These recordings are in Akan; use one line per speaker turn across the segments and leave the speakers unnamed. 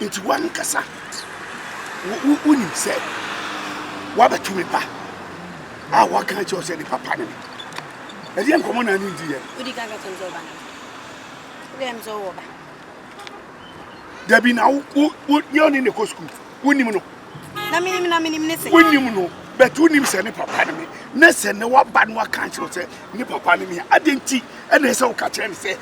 Nti w'ankasa wunim sɛ woabɛto me ba a waka akyerɛ wo sɛ ne papa ne me. Ɛdeɛ nkɔmmɔ na ne diiɛ no? Wodi kan ka kyerɛ me sɛ ɔba
ne me. Wodi kan sɛ ɔwɔ ba.
Dabi na wo nyɛ ɔne ne kɔ sukuu. Wonim no. Na menim na menim ne sɛ. Wonim no bɛto wonim sɛ ne papa ne me. Na sɛ ne waba no aka akyerɛ wo sɛ ne papa ne me a, adɛn nti ɛna ɛsɛ woka kyerɛ no sɛ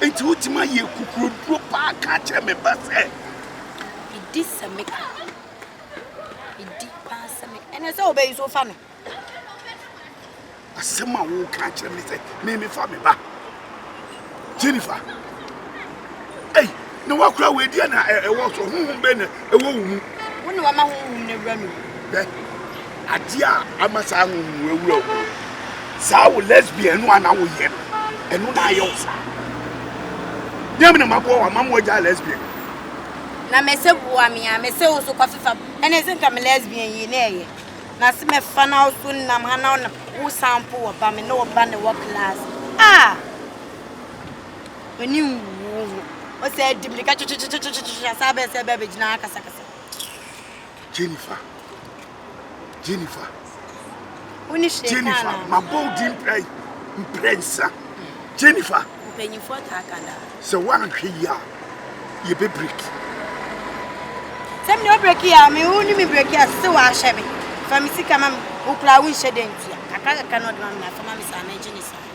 Enti wotumi ayɛ akukuroduro paa ka akyerɛ me ba sɛ. Medi
sɛ me ka. Medi paa sɛ me. Ɛnɛ sɛ wobɛyi so fa me.
Asɛm a woka akyerɛ me sɛ me mefa me ba. Jennifer. Ei. Na wakura wei deɛ na ɛwɔ so honhom bɛ na ɛwɔ wo mu. Wo na wama honhom
no awura me mu. Bɛ
adeɛ a ama saa honhom no awura wo mu saa wo lesbian no a na woyɛ no ɛno na ayɛ wo saa nyɛ me na maboa wo ama mo agya lesbian. Na
mɛsɛ boa me a mɛsɛ wo so kɔfefa ɛne sɛ nka me lesbian yi na ɛyɛ na se mɛfa na wo so nam ha na wo san po wɔ ba me ne wo ba ne wɔ class ah. w'ani nwu wo ho. Ɔsɛ di mmirika twetwetwetwetwetwe asan bɛn sɛ bɛɛ bɛgyina ha kasakasa.
Jennifer. Jennifer.
Wo ne hwee kaa na. Mabɔ wo
din mprɛ mprɛ nsa. Jennifer. Mpanyinfoɔ taa
ka daa. Sɛ woanhwɛ
yie a, yɛbɛ breki.
Sɛ mene wo breki a, me wo ne me breki a, sɛ woahwɛ me. Fa me sika ma me. Wokura wo nhyɛ dɛ ntia. Kakra kakra na ɔde ma me na afa ma me saa mɛgye ne saa.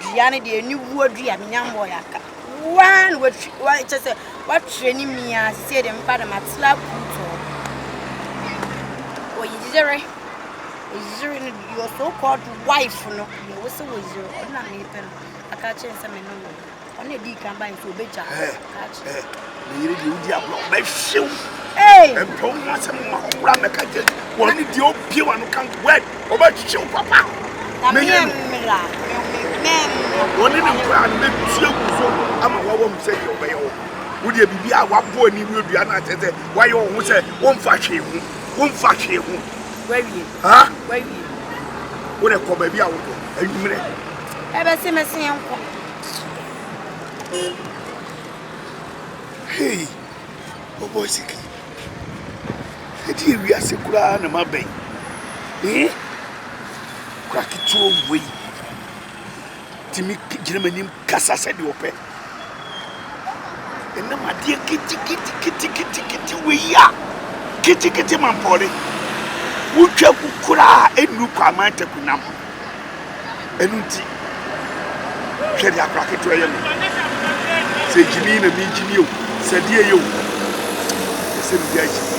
Dua no deɛ ɛni wuo dua me nya mbɔ yaka. Waa na watwi wa kyɛ sɛ watwerɛ ne mi aseɛ de mpa de matela kuutoo. Oyere oyere no your so called wife no deɛ wo sɛ wɔyere ɔno na mepɛ no aka kyerɛ sɛ me no no ɔno na ɛdii kan ba nti ɔbɛgya aka kyerɛ.
Ne yere deɛ wodi agorɔ ɔbɛhyew ɛmpɛ wo
ho asɛm
ma ɔkora mɛka gye wɔn ne deɛ obie wa no kan word ɔbɛhyew papa mɛyɛ no wɔne ne nkora no bɛtua gu so ama wawa mu sɛ deɛ ɔbɛyɛ wɔ wodeɛ biribi a waboa ne wura dua no akyɛ sɛ wayɛ wɔ ho sɛ wɔmfa hwee ho wɔmfa hwee ho wawie
ha
wawie
wodɛ kɔ
baabi a wokɔ anwummerɛ
ɛbɛse mɛse yɛnkɔ
Hey, bɔbɔɔ sika yi. Ɛde yɛ wiase koraa na maba yi. Ee, kura ketewa wei. Tumi gyina m'anim kasa sɛdeɛ ɔpɛ. Ɛnam adeɛ ketekete wei a, ketekete mampɔre. Wotwa gu koraa a, ɛnnu Kwame Antaku nam ho. Ɛno nti, hwɛ deɛ akora ketewa yɛ me. Sɛ gyimii na megyimii o, sɛ deɛ yɛ o, ɛsɛ mede agyimii.